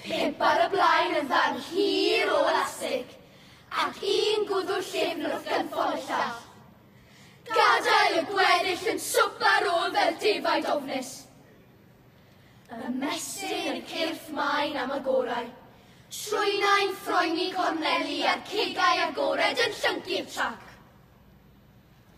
Pump ar y blaen yn ddarn hir o elastig, ac un gwddw'r llyfn wrth gynffon y llall. Gadael y gweddill yn swp ar ôl fel defaid ofnus. Ymestyn y cyrff maen am y gorau. Trwynau'n ffroeni corneli a'r cegau agored yn llyncu'r trac.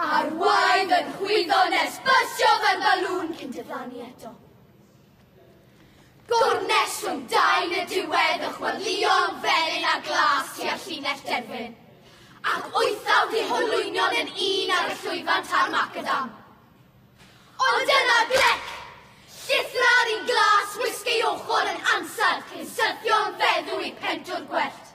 Arwain fy nhwyddo nes byrstio fel balŵn cyn diflannu eto. Gornes rhwng dain y diwedd y chwelyom felyn a glas tua llinell derfyn. Ac wythaf di holwynion yn un ar y llwyfan tar macadam. Ond yna glec! Llithra'r un glas wisg ei ochr yn ansawdd cyn syrthio'n feddw i pentwr gwellt.